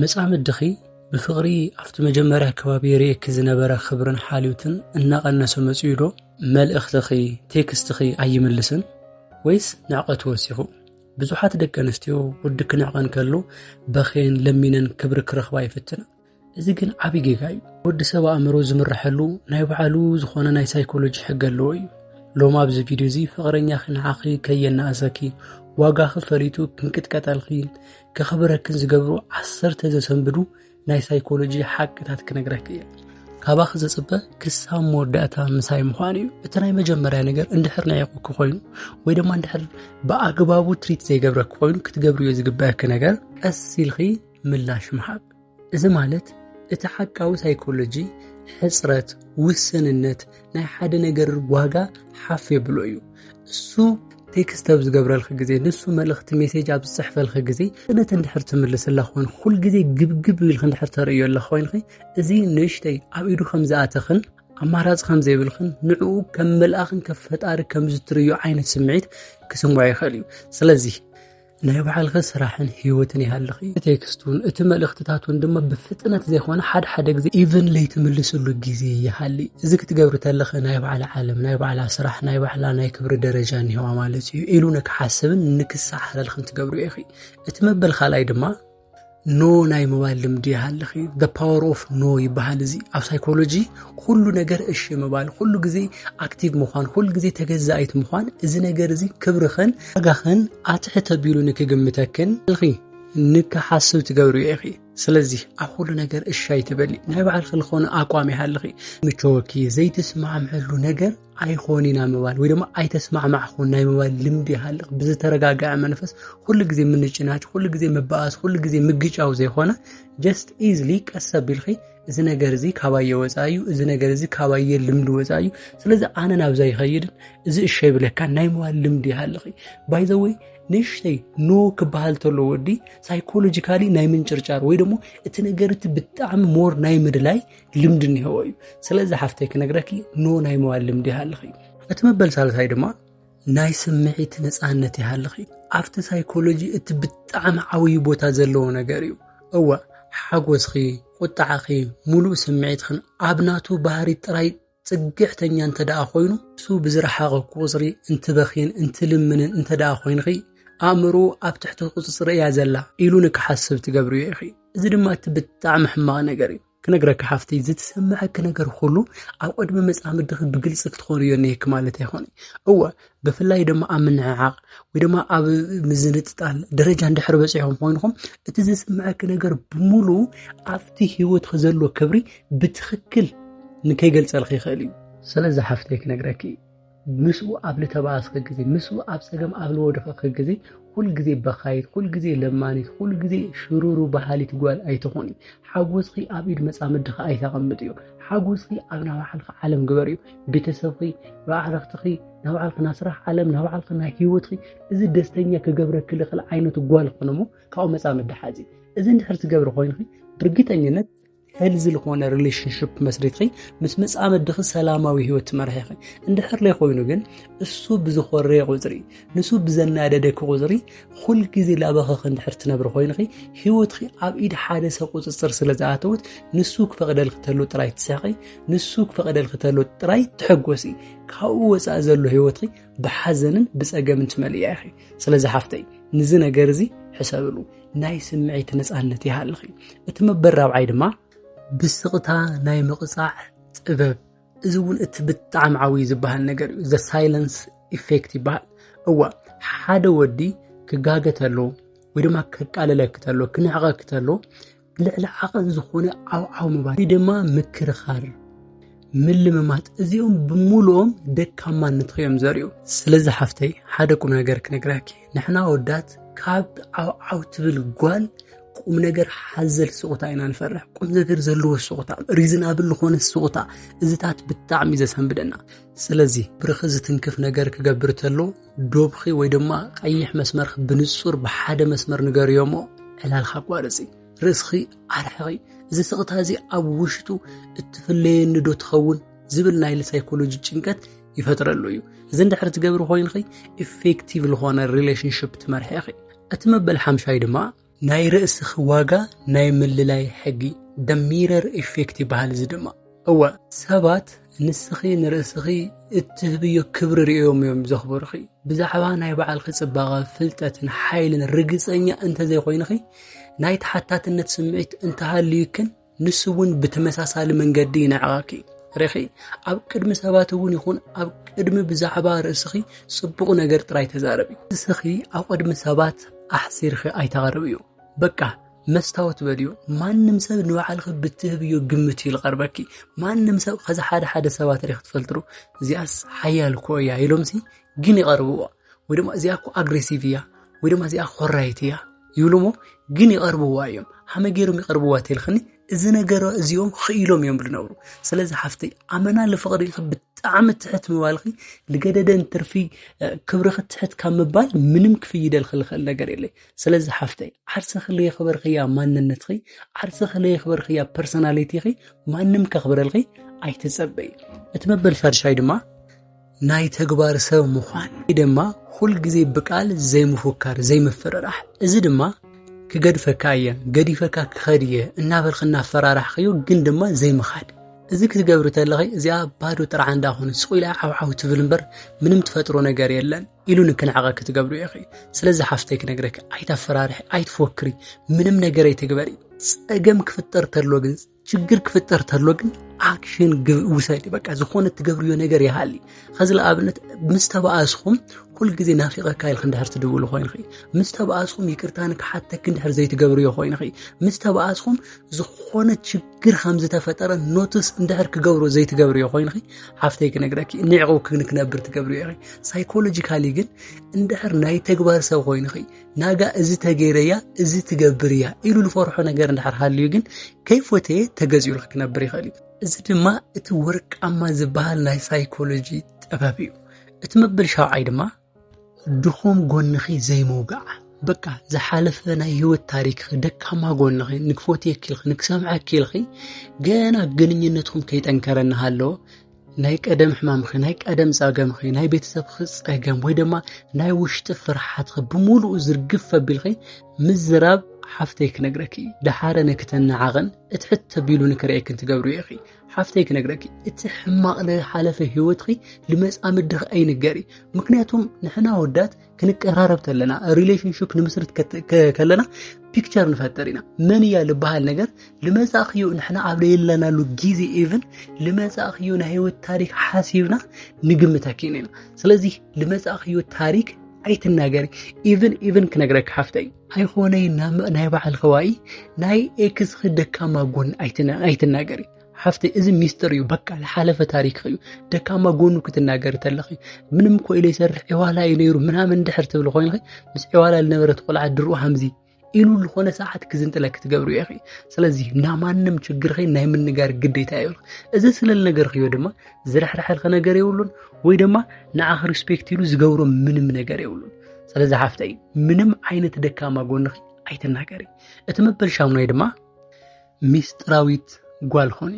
መጻምድኺ ብፍቕሪ ኣብቲ መጀመርያ ከባቢ ይርእየኪ ዝነበረ ክብርን ሓልዮትን እናቐነሰ መጺኡዶ? መልእኽትኺ፣ ቴክስትኺ ኣይምልስን ወይስ ንዕቐቱ ወሲኹ? ብዙሓት ደቂ ኣንስትዮ ወዲ ክነዕቐን ከሎ በኼን ለሚነን ክብሪ ክረኽባ ይፍትና እዚ ግን ዓብ ጌጋ እዩ ወዲ ሰብ ኣእምሮ ዝምርሐሉ ናይ ባዕሉ ዝኾነ ናይ ሳይኮሎጂ ሕገ ኣለዎ እዩ ሎማ ኣብዚ ቪድዮ እዚ ፍቕረኛኺ ንዓኺ ከየናእሰኪ ዋጋኺ ፈሊጡ ክንቅጥቀጠልኪ ከኽብረክን ዝገብሩ ዓሰርተ ዘሰንብዱ ናይ ሳይኮሎጂ ሓቅታት ክነግረክ እየ ካባኺ ዘፅበ ክሳብ መወዳእታ ምሳይ ምዃን እዩ እቲ ናይ መጀመርያ ነገር እንድሕር ናይቑ ክኮይኑ ወይ ድማ እንድሕር ብኣግባቡ ትሪት ዘይገብረክ ኮይኑ ክትገብርዮ ዝግበአኪ ነገር ቀስ ኢልኺ ምላሽ ምሃብ እዚ ማለት እቲ ሓቃዊ ሳይኮሎጂ ሕፅረት ውስንነት ናይ ሓደ ነገር ዋጋ ሓፍ የብሎ እዩ እሱ ቴክስት ኣብ ዝገብረልክ ግዜ ንሱ መልእኽቲ ሜሴጅ ኣብ ዝፅሕፈልክ ግዜ እነት እንድሕር ትምልስላ ኮይኑ ኩል ግዜ ግብግብ ኢልክ እንድሕር ተርእዮ ኣለ ኮይንኺ እዚ ንእሽተይ ኣብ ኢዱ ከም ዝኣተኽን ኣማራፂ ከም ዘይብልኽን ንዕኡ ከም መልኣኽን ከም ፈጣሪ ከም ዝትርእዮ ዓይነት ስምዒት ክስምዖ ይኽእል እዩ ስለዚ ናይ ባዕልኺ ስራሕን ህይወትን ይሃልኺ። እቲ ቴክስቱን እቲ መልእኽትታቱን ድማ ብፍጥነት ዘይኮነ ሓደ ሓደ ግዜ ኢቨን ለይትምልስሉ ግዜ ይሃሊ። እዚ ክትገብሪ ተለኺ ናይ ባዕላ ዓለም፣ ናይ ባዕላ ስራሕ፣ ናይ ባዕላ ናይ ክብሪ ደረጃ እኒሄዋ ማለት እዩ ኢሉ ንክሓስብን ንክሰዓረልኽን ትገብርዮ ኢኺ። እቲ መበል ካልኣይ ድማ ኖ ናይ ምባል ልምዲ ይሃልኺ the power of no ይበሃል እዚ ኣብ ሳይኮሎጂ ኩሉ ነገር እሺ ምባል ኩሉ ግዜ ኣክቲቭ ምዃን ኩሉ ግዜ ተገዛኢት ምዃን እዚ ነገር እዚ ክብርኽን ዋጋኽን ኣትሕት ኣቢሉ ንክግምተክን ኢኺ ንክሓስብ ትገብሪ ኢኺ ስለዚ ኣብ ኩሉ ነገር እሺ ኣይትበሊ ናይ ባዕልኺ ዝኾነ ኣቋም ይሃልኺ ምቸወኪ ዘይትስማዕምዐሉ ነገር ኣይኾን ኢና ምባል ወይ ድማ ኣይተስማዕማዕኹን ናይ ምባል ልምዲ ይሃልቕ ብዝተረጋገዐ መንፈስ ኩሉ ግዜ ምንጭናጭ ኩሉ ግዜ ምበኣስ ኩሉ ግዜ ምግጫው ዘይኮነ ጀስት ኢዝሊ ቀስ ኣቢልኺ እዚ ነገር እዚ ካባየ ወፃ እዩ እዚ ነገር እዚ ካባየ ልምዲ ወፃ እዩ ስለዚ ኣነ ናብዛ ይኸይድን እዚ እሸ ይብለካ ናይ ምባል ልምዲ ይሃልኺ ባይዘወይ ንእሽተይ ኖ ክበሃል ተሎ ወዲ ሳይኮሎጂካሊ ናይ ምንጭርጫር ወይ ደግሞ እቲ ነገር እቲ ብጣዕሚ ሞር ናይ ምድላይ ልምዲ እኒሄዎ እዩ ስለዚ ሓፍተይ ክነግረኪ ኖ ናይ መዋል ልምዲ ይሃልኽ እዩ እቲ መበል ሳልሳይ ድማ ናይ ስምዒት ነፃነት ይሃልኽ እዩ ኣብቲ ሳይኮሎጂ እቲ ብጣዕሚ ዓብዪ ቦታ ዘለዎ ነገር እዩ እወ ሓጎስኺ ቁጣዕኺ ሙሉእ ስምዒትኽን ኣብ ናቱ ባህሪ ጥራይ ጽግዕተኛ እንተ ደኣ ኮይኑ እሱ ብዝረሓቐ ቁጽሪ እንትበኽይን እንትልምንን እንተ ደኣ ኮይንኺ ኣእምሮ ኣብ ትሕቲ ቁጽጽሪ እያ ዘላ ኢሉ ንክሓስብ ትገብርዮ ኢኺ። እዚ ድማ እቲ ብጣዕሚ ሕማቕ ነገር እዩ። ክነግረኪ ሓፍተይ ዝትሰምዐኪ ነገር ኩሉ ኣብ ቅድሚ መጻምድኺ ብግልጺ ክትኾንዮ እኒሀኪ ማለት ኣይኮነይ እወ ብፍላይ ድማ ኣብ ምንዕዓቕ ወይ ድማ ኣብ ምዝንጥጣል ደረጃ እንድሕር በፂሖም ኮይንኹም እቲ ዝስምዐኪ ነገር ብምሉ ኣብቲ ሂወት ዘሎ ክብሪ ብትኽክል ንከይገልፀልኪ ይኽእል እዩ ስለዚ ሓፍተይ ክነግረኪ ምስኡ ኣብ ልተባኣስኪ ግዜ ምስኡ ኣብ ፀገም ኣብ ልወደኸኪ ግዜ ኩልግዜ በኻይት ኩልግዜ ለማኒት ኩልግዜ ሽሩሩ በሃሊት ጓል ኣይትኾኒ ሓጎስኪ ኣብ ኢድ መፃምድኺ ኣይተቐምጥዮ ሓጎስኪ ኣብ ናባዕልኺ ዓለም ግበርዮ ቤተሰብኺ፣ ኣዕርኽትኺ፣ ናይ ባዕልኺ ናይ ስራሕ ዓለም፣ ናይ ባዕልኺ ናይ ሂወትኺ እዚ ደስተኛ ክገብረኪ ዝኽእል ዓይነት ጓል ኾነ እሞ ካብኡ መፃ ምድሓዝ እዩ። እዚ እንድሕር ትገብሪ ኮይንኺ ብርግጠኝነት ሄልዚ ዝኾነ ሪሌሽንሽፕ መስሪትኺ ምስ መፃምድኺ ሰላማዊ ሂወት ትመርሒኺ እንድሕር ዘይኮይኑ ግን እሱ ብዝኾረየ ቁፅሪ ንሱ ብዘናደደኪ ቁፅሪ ኹል ግዜ ላበኸኺ እንድሕር ትነብሪ ኮይንኺ ህይወትኺ ኣብ ኢድ ሓደ ሰብ ቁፅፅር ስለ ዝኣተወት ንሱ ክፈቕደልኪ ተሎ ጥራይ ትስሕቂ፣ ንሱ ክፈቕደልኪ ተሎ ጥራይ ትሕጎሲ። ካብኡ ወፃኢ ዘሎ ህይወትኺ ብሓዘንን ብፀገምን ትመልእያ ኢኺ። ስለዚ ሓፍተይ ንዚ ነገር እዚ ሕሰብሉ፣ ናይ ስምዒት ነፃነት ይሃልኺ። እቲ መበል ራብዓይ ድማ ብስቕታ ናይ ምቕፃዕ ጥበብ እዚ እውን እቲ ብጣዕሚ ዓብዩ ዝበሃል ነገር እዩ ዘ ሳይለንስ ኢፌክት ይበሃል እዋ ሓደ ወዲ ክጋገ ተሎ ወይ ድማ ከቃልለኪ ተሎ ክንዕቐኪ ተሎ ልዕሊ ዓቐን ዝኾነ ዓውዓው ምባል ወይ ድማ ምክርኻር ምልምማጥ እዚኦም ብምሉኦም ደካማነት እዮም ዘርእዩ ስለዚ ሓፍተይ ሓደ ቁም ነገር ክነግራኪ ንሕና ወዳት ካብ ዓውዓው ትብል ጓል ቁም ነገር ሓዘል ስቑታ ኢና ንፈርሕ ቁም ነገር ዘለዎ ስቑታ ሪዝናብል ዝኾነ ስቑታ እዚታት ብጣዕሚ ዘሰንብደና ስለዚ ብርኺ ዝትንክፍ ነገር ክገብር ተሎ ዶብኺ ወይ ድማ ቀይሕ መስመርኺ ብንጹር ብሓደ መስመር ንገርዮ እሞ ዕላልካ ኣቋርፂ ርእስኺ ኣርሕቂ እዚ ስቕታ እዚ ኣብ ውሽጡ እትፍለየኒ ዶ ትኸውን ዝብል ናይ ሳይኮሎጂ ጭንቀት ይፈጥረሉ እዩ እዚ እንድሕር ትገብሪ ኮይንኺ ኢፌክቲቭ ዝኾነ ሪሌሽንሽፕ ትመርሒ ኢኺ እቲ መበል ሓምሻይ ድማ ናይ ርእስኺ ዋጋ ናይ ምልላይ ሕጊ ደሚረር ኢፌክት ይበሃል እዚ ድማ እወ ሰባት ንስኺ ንርእስኺ እትህብዮ ክብሪ ርእዮም እዮም ዘኽብርኺ ብዛዕባ ናይ በዓልኺ ጽባቐ ፍልጠትን ሓይልን ርግጸኛ እንተዘይኮይንኺ ናይ ተሓታትነት ስምዒት እንተሃልዩክን ንሱ እውን ብተመሳሳሊ መንገዲ ይንዕቐኪ ርኺ ኣብ ቅድሚ ሰባት እውን ይኹን ኣብ ቅድሚ ብዛዕባ ርእስኺ ጽቡቕ ነገር ጥራይ ተዛረቢ። ርእስኺ ኣብ ቅድሚ ሰባት ኣሕሲርኺ ኣይተቕርብዩ። በቃ መስታወት በልዩ። ማንም ሰብ ንባዕልኺ ብትህብዮ ግምት እዩ ዝቐርበኪ። ማንም ሰብ ከዚ ሓደ ሓደ ሰባት ርኢኺ ትፈልጥሩ እዚኣስ ሓያል እኮ እያ ኢሎምሲ ግን ይቐርብዎ። ወይ ድማ እዚኣ እኮ ኣግሬሲቭ እያ ወይ ድማ እዚኣ ኮራይት እያ ይብሉሞ ግን ይቐርብዋ እዮም ሃመ ገይሮም ይቐርብዋ ተልክኒ እዚ ነገር እዚኦም ክኢሎም እዮም ዝነብሩ ስለዚ ሓፍተይ ኣመና ልፍቕሪ ብጣዕሚ ትሕት ምባልኺ ልገደደን ትርፊ ክብርኺ ትሕት ካብ ምባል ምንም ክፍይደልኺ ልኽእል ነገር የለይ ስለዚ ሓፍተይ ዓርስኺ ለየኽበርኽያ ማንነትኺ ዓርስኺ ለየኽበርኽያ ፐርሶናሊቲኺ ማንም ከኽብረልኺ ኣይትፀበይ እቲ መበል ሻድሻይ ድማ ናይ ተግባር ሰብ ምዃን ወይ ድማ ኩል ግዜ ብቃል ዘይምፉካር ዘይምፍርራሕ እዚ ድማ ክገድፈካ እየ ገዲፈካ ክኸድ እየ እናበልክ እናፈራራሕኸዮ ግን ድማ ዘይምኻድ እዚ ክትገብሪ ተለኺ እዚኣ ባዶ ጥራሕ እንዳኾነ ስቑኢላ ዓውዓው ትብል እምበር ምንም ትፈጥሮ ነገር የለን ኢሉ ንክንዕቐ ክትገብሩ ኢኺ ስለዚ ሓፍተይ ክነግረኪ ኣይታፈራርሒ ኣይትፎክሪ ምንም ነገር ኣይትግበሪ ጸገም ክፍጠር ተሎ ግን ችግር ክፍጠር ተሎ ግን ኣክሽን ውሰድ በቃ ዝኾነ ትገብርዮ ነገር ይሃሊ ኸዚ ንኣብነት ምስ ተባኣስኹም ኩል ግዜ ናፊቐካ ኢልክ እንድሕር ትድውሉ ኮይንኺ ምስ ተባኣስኹም ይቅርታ ንክሓተክ እንድሕር ዘይትገብርዮ ኮይንኺ ምስ ተባኣስኹም ዝኾነ ችግር ከም ዝተፈጠረ ኖትስ እንድሕር ክገብሮ ዘይትገብርዮ ኮይንኺ ሓፍተይ ክነግረኪ ንዕቑ ክንክነብር ትገብርዮ ኢኺ ሳይኮሎጂካሊ ግን እንድሕር ናይ ተግባር ሰብ ኮይንኺ ናጋ እዚ ተገይረያ እዚ ትገብር እያ ኢሉ ዝፈርሖ ነገር እንድሕር ሃልዩ ግን ከይፎተየ ተገዚኡሉ ክነብር ይኽእል እዩ። እዚ ድማ እቲ ወርቃማ ዝበሃል ናይ ሳይኮሎጂ ጥበብ እዩ። እቲ መበል ሻውዓይ ድማ ድኹም ጎንኺ ዘይምውጋዕ በቃ ዝሓለፈ ናይ ህይወት ታሪክኺ ደካማ ጎንኺ ንክፎትየኪ ኢልኺ ንክሰምዐኪ ኢልኺ ገና ግንኙነትኩም ከይጠንከረ እናሃለወ ናይ ቀደም ሕማምኺ ናይ ቀደም ጸገምኺ ናይ ቤተሰብኺ ጸገም ወይ ድማ ናይ ውሽጢ ፍርሓትኺ ብምሉኡ ዝርግፍ ኣቢልኺ ምዝራብ ሓፍተይ ክነግረኪ ደሓረ ንክተናዓቕን እቲ ሕተ ቢሉ ንክርእየክን ትገብሩ ኢኺ ሓፍተይ ክነግረኪ እቲ ሕማቕ ዝሓለፈ ህይወትኺ ልመጻምድኺ ኣይንገሪ ምክንያቱም ንሕና ወዳት ክንቀራረብ ተለና ሪሌሽንሽፕ ንምስርት ከለና ፒክቸር ንፈጥር ኢና መን እያ ዝበሃል ነገር ልመፃእክዮ ንሕና ኣብ ለየለናሉ ግዜ ኢቭን ልመፃእክዮ ናይ ህይወት ታሪክ ሓሲብና ንግምት ኣኪን ኢና ስለዚ ልመፃእክዮ ታሪክ ኣይትናገሪ ኢቭን ኢቭን ክነግረካ ሓፍተይ ኣይኮነይ ናይ ባዕል ከባኢ ናይ ኤክስኺ ደካማ ጎን ኣይትናገሪ ሓፍተይ እዚ ሚስጥር እዩ በቃ ዝሓለፈ ታሪክ እዩ ደካማ ጎኑ ክትናገር ተለኺ ምንም እኮ ኢለ ይሰርሕ ዕዋላ እዩ ነይሩ ምናምን ድሕር ትብል ኮይንኺ ምስ ዕዋላ ዝነበረት ቆልዓ ድርኡ ሃምዚ ኢሉ ዝኾነ ሰዓት ክዝንጥለ ክትገብሩ ኢኺ ስለዚ ናማንም ችግርኺ ናይ ምንጋር ግዴታ እዩ እዚ ስለል ነገር ክዮ ድማ ዝረሕረሐልኺ ነገር የብሉን ወይ ድማ ንዓኺ ሪስፔክት ኢሉ ዝገብሮ ምንም ነገር የብሉን ስለዚ ሓፍተይ ምንም ዓይነት ደካማ ጎንኺ ኣይትናገሪ እቲ መበል ሻሙናይ ድማ ሚስጥራዊት ጓል ኾኒ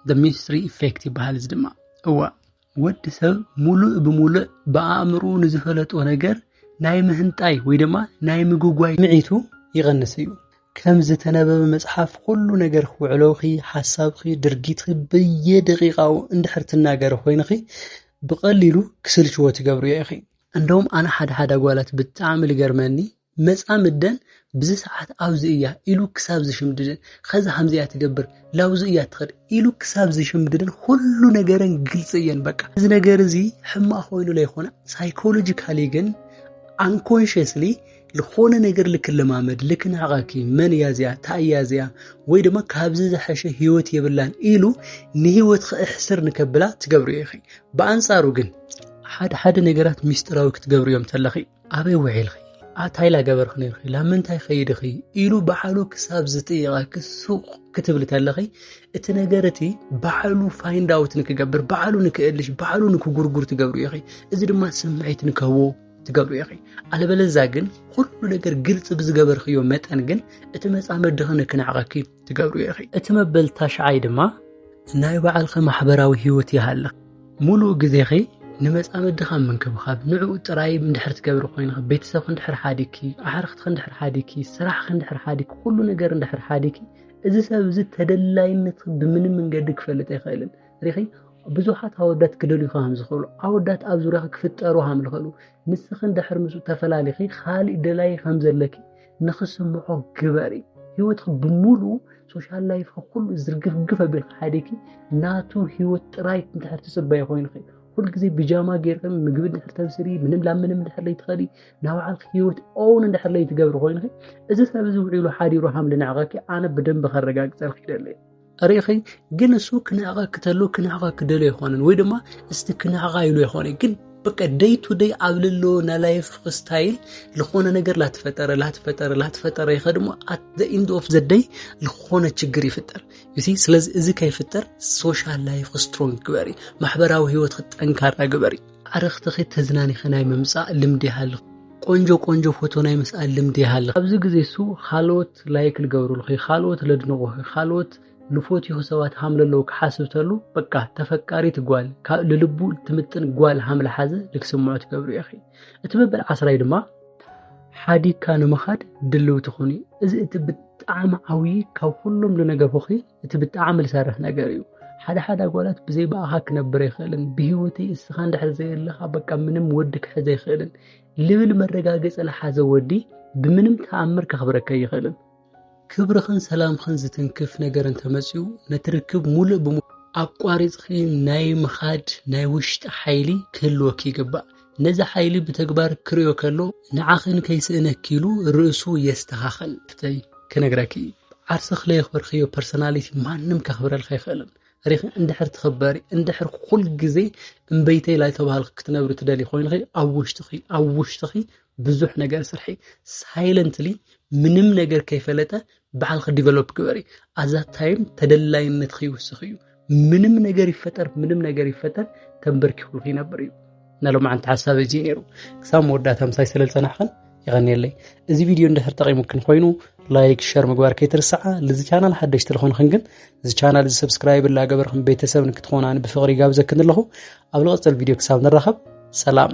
ደ ሚስትሪ ኢፌክት ይበሃል። እዚ ድማ እዋ ወዲ ሰብ ሙሉእ ብሙሉእ ብኣእምሩ ንዝፈለጦ ነገር ናይ ምህንጣይ ወይ ድማ ናይ ምጉጓይ ምዒቱ ይቐንስ እዩ። ከም ዝተነበበ መጽሓፍ ኩሉ ነገርኺ ውዕሎኺ፣ ሓሳብኺ፣ ድርጊትኺ በየደቂቃኡ እንድሕር ትናገሪ ኮይንኺ ብቐሊሉ ክስልችዎ ትገብርዮ ኢኺ። እንደውም ኣነ ሓደ ሓደ ኣጓላት ብጣዕሚ ልገርመኒ መጻምደን ብዚ ሰዓት ኣብዚ እያ ኢሉ ክሳብ ዝሽምድደን ከዛ ከምዚ እያ ትገብር ላውዚ እያ ትኸድ ኢሉ ክሳብ ዝሽምድደን ኩሉ ነገረን ግልፂ እየን በቃ እዚ ነገር እዚ ሕማቅ ኮይኑ ለይኮነ ሳይኮሎጂካሊ ግን ኣንኮንሽስሊ ዝኾነ ነገር ልክለማመድ ልክናቐኪ መን እያ እዚኣ እንታይ እያ እዚኣ ወይ ድማ ካብዚ ዝሐሸ ህይወት የብላን ኢሉ ንህይወት ክእሕስር ንከብላ ትገብርዮ ኢኺ ብኣንጻሩ ግን ሓደ ሓደ ነገራት ሚስጢራዊ ክትገብርዮም ተለኺ ኣበይ ውዒልኺ ኣታይ ላገበርኺ ነርኺ ላብ ምንታይ ኸይድኺ ኢሉ ባዕሉ ክሳብ ዝጥይቐኪ ሱቕ ክትብሊ ከለኺ እቲ ነገር እቲ ባዕሉ ፋይንድ ኣውት ንክገብር ባዕሉ ንክእልሽ ባዕሉ ንክጉርጉር ትገብሩ ኢኺ እዚ ድማ ስምዒት ንክህቦ ትገብሩ ኢኺ ኣለበለዛ ግን ኩሉ ነገር ግልፂ ብዝገበርክዮ መጠን ግን እቲ መፃመድኺ ንክናዕቐኪ ትገብሩ ኢኺ። እቲ መበል ታሽዓይ ድማ ናይ ባዕልኺ ማሕበራዊ ህይወት ይሃልኽ። ሙሉእ ግዜኺ ንመጻምድኻ ምንክብኻብ ንዕኡ ጥራይ እንድሕር ትገብሪ ኮይንኺ ቤተሰብኺ እንድሕር ሓዲኪ ኣሕርኽትኺ እንድሕር ሓዲኪ ስራሕኺ እንድሕር ሓዲኪ ኩሉ ነገር እንድሕር ሓዲኪ እዚ ሰብ እዚ ተደላይነት ብምንም መንገዲ ክፈልጥ ኣይኽእልን ሪኺ ብዙሓት ኣወዳት ክደልዩ ከም ዝኽእሉ ኣወዳት ኣብ ዙርያኺ ክፍጠሩ ከም ዝኽእሉ ንስኺ እንድሕር ምስ ተፈላሊኺ ካልእ ደላይ ከም ዘለኪ ንክስምዖ ግበሪ ህይወትኺ ብምሉ ሶሻል ላይፍ ኩሉ ዝርግፍግፍ ኣቢል ሓደኪ ናቱ ህይወት ጥራይ እንድሕር ትፅበይ ኮይንኺ ኩልግዜ ብጃማ ጌርኪ ምግቢ እንድሕር ተብስሪ ምንም ላብ ምንም እንድሕር ለይትኸዲ ናብ ባዕልኪ ህይወት ኦውን እንድሕር ለይትገብሪ ኮይንኺ እዚ ሰብ እዚ ውዒሉ ሓዲሩ ሃምሊ ንዕቐኪ ኣነ ብደንቢ ከረጋግፀልኪ ይደለየ ርእኺ ግን እሱ ክነዕቐኪ ተሎ ክነዕቐኪ ክደሎ ኣይኮነን ወይ ድማ እስቲ ክነዕቓ ኢሉ ኣይኮነ ግን በቃ ደይ ቱ ደይ ኣብ ልሎ ናይ ላይፍ ስታይል ዝኾነ ነገር ላትፈጠረ ላትፈጠረ ላትፈጠረ ይኸ ድማ ኣት ዘ ኢንድ ኦፍ ዘ ደይ ዝኾነ ችግር ይፍጠር ዩሲ ስለዚ እዚ ከይፍጠር ሶሻል ላይፍ ስትሮንግ ግበሪ ማሕበራዊ ህይወት ክጠንካራ ግበሪ ኣርኽትኺ ተዝናኒኺ ናይ ምምጻእ ልምዲ ይሃልኽ ቆንጆ ቆንጆ ፎቶ ናይ ምስኣል ልምዲ ይሃልኽ ኣብዚ ግዜ እሱ ካልኦት ላይክ ልገብሩልኺ ካልኦት ለድንቑኺ ካልኦት ንፎትዩ ሰባት ሃም ለለዉ ክሓስብ ተሉ በቃ ተፈቃሪት ጓል ካብ ልልቡ ትምጥን ጓል ሃም ልሓዘ ልክስምዖ ትገብሩ ኢኺ እቲ መበል ዓስራይ ድማ ሓዲግካ ንምኻድ ድልው ትኹኒ እዚ እቲ ብጣዕሚ ዓብዪ ካብ ኩሎም ልነገርኹኺ እቲ ብጣዕሚ ዝሰርሕ ነገር እዩ። ሓደ ሓደ ኣጓላት ብዘይ ብኣኻ ክነብር ኣይኽእልን፣ ብህይወተይ እስኻ እንድሕር ዘየለኻ በቃ ምንም ወዲ ክሕዝ ኣይኽእልን ልብል መረጋገፂ ዝሓዘ ወዲ ብምንም ተኣምር ከኽብረካ ኣይኽእልን። ክብርኽን ሰላምኽን ዝትንክፍ ነገር እንተመፅኡ ነቲ ርክብ ሙሉእ ብሙሉእ ኣቋሪፅኺ ናይ ምኻድ ናይ ውሽጢ ሓይሊ ክህልወኪ ይግባእ። ነዚ ሓይሊ ብተግባር ክርእዮ ከሎ ንዓኽን ከይስእነኪ ኢሉ ርእሱ የስተኻኸል። ፍተይ ክነግረኪ ዓርስኽ ለየኽበርክዮ ፐርሶናሊቲ ማንም ከኽብረልካ ኣይኽእልን። ሪኺ እንድሕር ትኽበሪ እንድሕር ኩል ግዜ እምበይተይ ላይ ተባህልኺ ክትነብሪ ትደሊ ኮይንኺ ኣብ ውሽጥኺ ኣብ ውሽጥኺ ብዙሕ ነገር ስርሒ ሳይለንትሊ ምንም ነገር ከይፈለጠ ባዕልኺ ዲቨሎፕ ግበሪ ኣዛ ታይም ተደላይነት ይውስኽ እዩ ምንም ነገር ይፈጠር ምንም ነገር ይፈጠር ተንበርኪኹሉ ይነብር እዩ ናሎማዓንቲ ሓሳብ እዚ ነይሩ ክሳብ መወዳእታ ምሳይ ስለ ዝፀናሕኽን ይቐኒየለይ እዚ ቪድዮ እንድሕር ጠቂሙክን ኮይኑ ላይክ ሸር ምግባር ከይትርስዓ ልዚ ቻናል ሓደሽቲ ዝኾንኽን ግን እዚ ቻናል እዚ ሰብስክራይብ ላገበርክን ቤተሰብ ንክትኾናን ብፍቕሪ ይጋብዘክን ኣለኹ ኣብ ዝቐፅል ቪድዮ ክሳብ ንራኸብ ሰላም